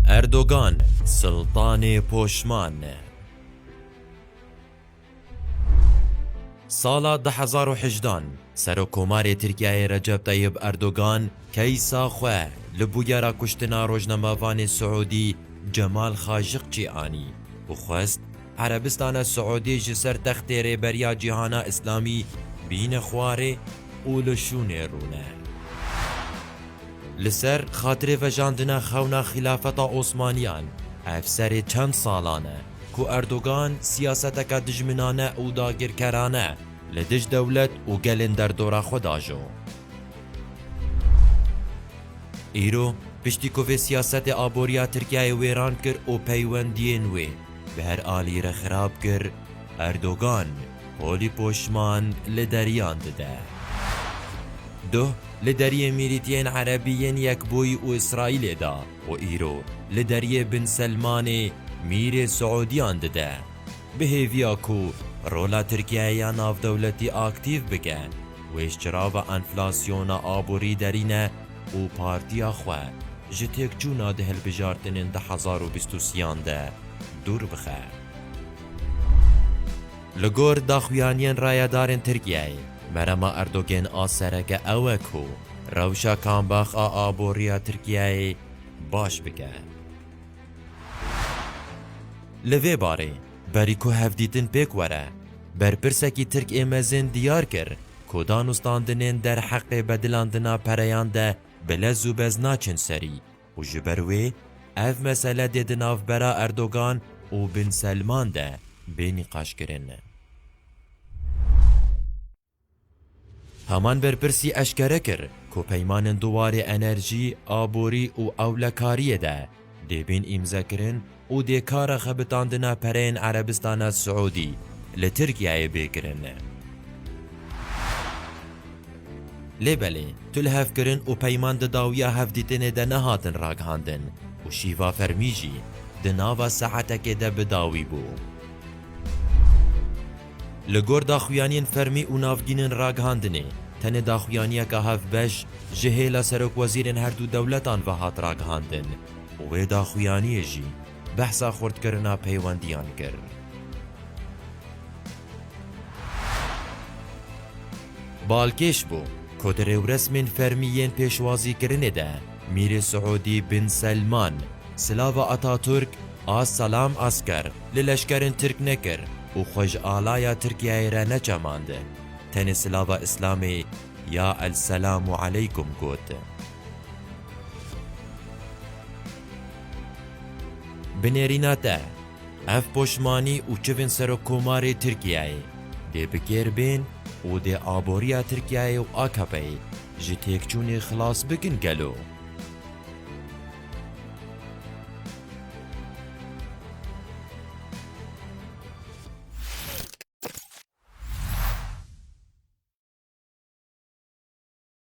Erdogan, siltanê poşman. Sala du hezar û hejdan Serokkomarê Tirkiyeyê Recep Tayyib Erdogan keysa xwe li bûyera kuştina rojnamevanê Siûdî Cemal Xaşiqçî anî û xwest Erebistana Siûdî ji ser textê Rêberiya Cîhana Îslamî bîne xwarê û li şûnê rûne. Li ser xatirê vejandina xewna Xîlafeta Osmaniyan, ev serê çend salan e ku Erdogan siyaseteke dijminane û dagirkerane li dij dewlet û gelên derdora xwe diajo. Îro piştî ku vê siyasetê aboriya Tirkiyeyê wêran kir û peywendiyên wê bi her alî re xirab kir, Erdogan, Holî poşman li deriyan dide. Duh li deriyê mîrîtiyên Erebî yên Yekbûyî û Îsraîlê da û îro li deriyê Bin Selmanê mîrê Siûdiyan dide. Bi hêviya ku rola Tirkiyeyê ya navdewletî aktîv bike, wê ji çirava enflasyona aborî derîne û partiya xwe ji têkçûna di hilbijartinên du hezar û bîst û sî yan de dûr bixe. Li gor daxuyaniyên rayedarên Tirkiyeyê, Merema Erdogên a sereke ew e ku rewşa kambax a aboriya Tirkiyeyê baş bike. Li vê barê, berî ku hevdîtin pêk were, berpirsekî Tirk ê mezin diyar kir ku danûstandinên derheqê bedilandina pereyan de bi lez û bez naçin serî Û ji ber wê ev mesele dê di navbera Erdogan û Bin Selman de bê nîqaşkirin. Heman berpirsî eşkere kir ku peymanên di warê enerjî, aborî û ewlekariyê de dê bên îmzekirin, û dê kara xebitandina pereyên Erebistana Siûdî li Tirkiyeyê bê kirin. Lê belê tu li hevkirin û peyman di dawiya hevdîtinê de nehatin ragihandin û şîva fermî jî di nava saetekê de bi dawî bû. Li gor daxuyaniyên fermî û navgînên ragihandinê, tenê daxuyaniyeka hevbeş ji hêla serokwezîrên herdû dewletan ve hat ragihandin, Wê daxuyaniyê jî behsa xurtkirina peywendiyan kir. Balkêş bû ku di rêwresmên fermî yên pêşwazîkirinê de Mîrê Siûdî Bin Selman silava Atatürk a Selam Asker li leşkerên Tirk nekir û xwe ji alaya Tirkiyeyê re neçemand. Tenê silava Îslamê ya El Selamu Eleykum got. Bi nêrîna te, ev poşmanî û çivên Serokkomarê Tirkiyeyê dê bi kêr bên û dê aboriya Tirkiyeyê û AKP'ê ji têkçûnê xilas bikin gelo?